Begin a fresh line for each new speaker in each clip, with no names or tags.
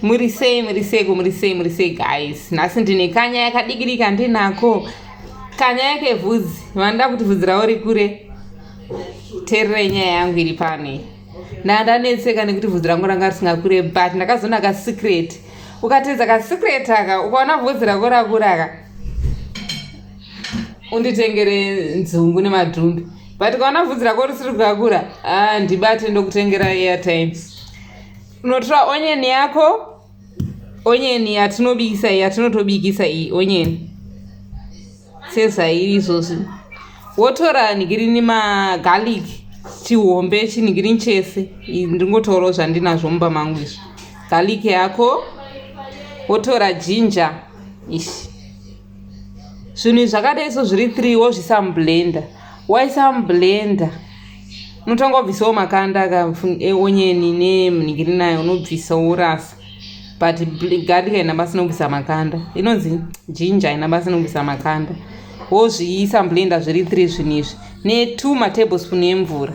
muri sei muri seiko muri sei muri sei guys nhasi ndine kanya yakadikirika ndinako kanya yake vhudzi vanoda kuti vhudzi ravo rikure tererai nyaya yangu iri pano iyi ndandanetseka nekuti vhudzi rangu ranga risingakure but ndakazoona kasecret ukatedza kasecret aka ukaona vhudzi rako rakura ka unditengere nzungu nemadhumbi but kaona vhudzi rako risiri kukakura ah, ndibate ndokutengera airtime unotora onion yako onion yatinobikisa iyi yatinotobikisa iyi onion sezvairi izvozvi wotora nigirini magarlic chihombe chinigirini chese ndingotorawo zvandinazvo mumba mangu izvi garlic yako wotora ginger ishi zvinhu izvi zvakadai so zviri three wozvisa mublender waisa mublender unotanga wabvisawo makanda eonyeni nemunhingiri nayo unobvisa worasa but garlic haina basa inobvisa makanda inonzi jinja haina basa inobvisa makanda wozviisa mublender zviri three zvinhu izvi netwo matablespoon emvura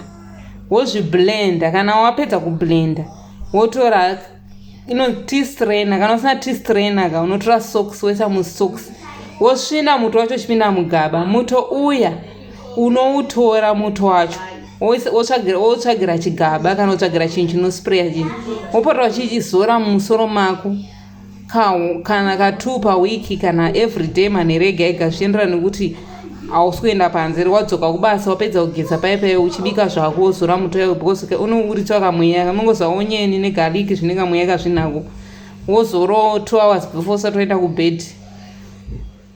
wozviblender kana wapedza kublender wotora ino t strainer kana usina t strainer ka unotora socks woisa musocks wosvina muto wacho uchipinda mugaba muto uya unoutora muto wacho wotsvagira chigaba kana wotsvagira chinhu chinospraya chinhu wopota uchichizora mumusoro mako kana ka two pawiki kana everyday manherega ega zvichienderana nekuti hausi kuenda panze ri wadzoka kubasa wapedza kugeza paye paye uchibika zvako wozora muto yawe because unouritswa kamweya kamongozva onyeni negaliki zvine kamweya kazvinako wozoro two hours before usati waenda kubed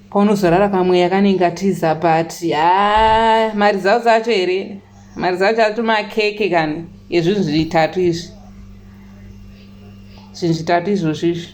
paunozorara kamweya kanenge atiza but ha mari dzavo dzacho here mari dzacho ato makeke kani ezvinhu zvitatu izvi zvinhu zvitatu izvozvo izvi